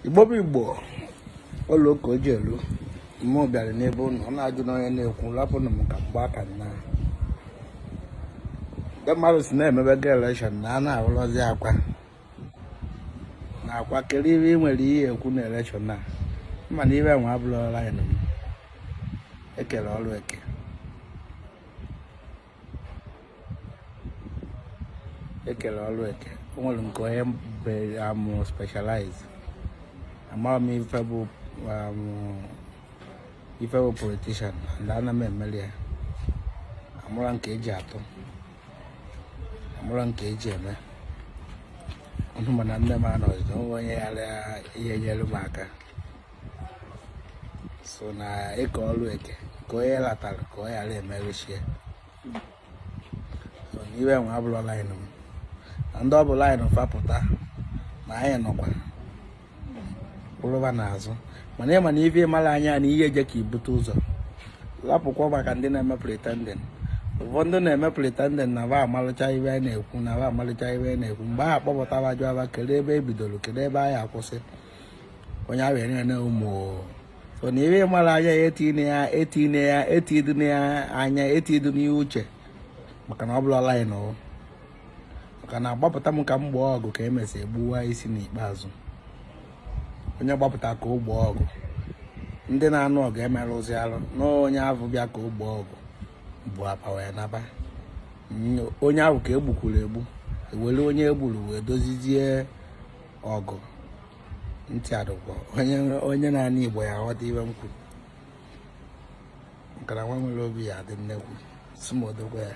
igbo bụ igbo ụlọ ụka oji elu mmụọ bịara n'ebe ụnụ ọ na-ajụ na onye na-ekwu rapụnụ m ka m gba aka nna ndị mmadụ si na-emebe ga elekshọn na a na-arụrụzi akwa na akwa kere ihe ị nwere ihe ekwu na elekshọn a mana ibe nwa abụrọ laịn m ekele ọrụ eke ekele ọrụ eke o nwere nke onye bere amụ specialize amaghị m ife bụ politician and ana m emeli ya amụra nke eji atụ amụra nke eji eme ọnụ mana nne m anọzi na onwe onye ghara ihe nyere m aka so na ekele ọrụ eke ka onye latara ka ọ ghara emerụchie so na ibe nwa abụrọ laịn m na ndị ọ bụ laịn fa pụta na anyị nọkwa kwụrụba n'azụ mana ịma na ife ịmara anya na ihe eje ka ibute ụzọ lapụkwa maka ndị na-eme pretending ụfọdụ na-eme pretending na ba amalụcha ibe a na-ekwu na ba amalụcha ibe a na-ekwu mgbe a kpọpụtara jụa ba kedu ebe e bidoro kedu ebe a ya-akwụsị onye ahụ ere na ụmụ so na ihe mara anya ya etine ya etine ya etidine ya anya etidu n'ihe uche maka na ọ bụrọ laịn ọ maka na agbapụta m ka m gboo ọgụ ka emesị egbuwa isi n'ikpeazụ onye gbapụta ka o gboo ọgụ ndị na-anụ ọgụ emerụzi arụ na onye ahụ bịa ka o gboo ọgụ bụ apa wee naba onye ahụ ka e gbukwuru egbu e were onye e gburu wee dozizie ọgụ ntị adụkwa onye na-anụ igbo ya ghọta ibe m kwuru maka na nwa nwere obi ya adị nnekwu sumodogwa ya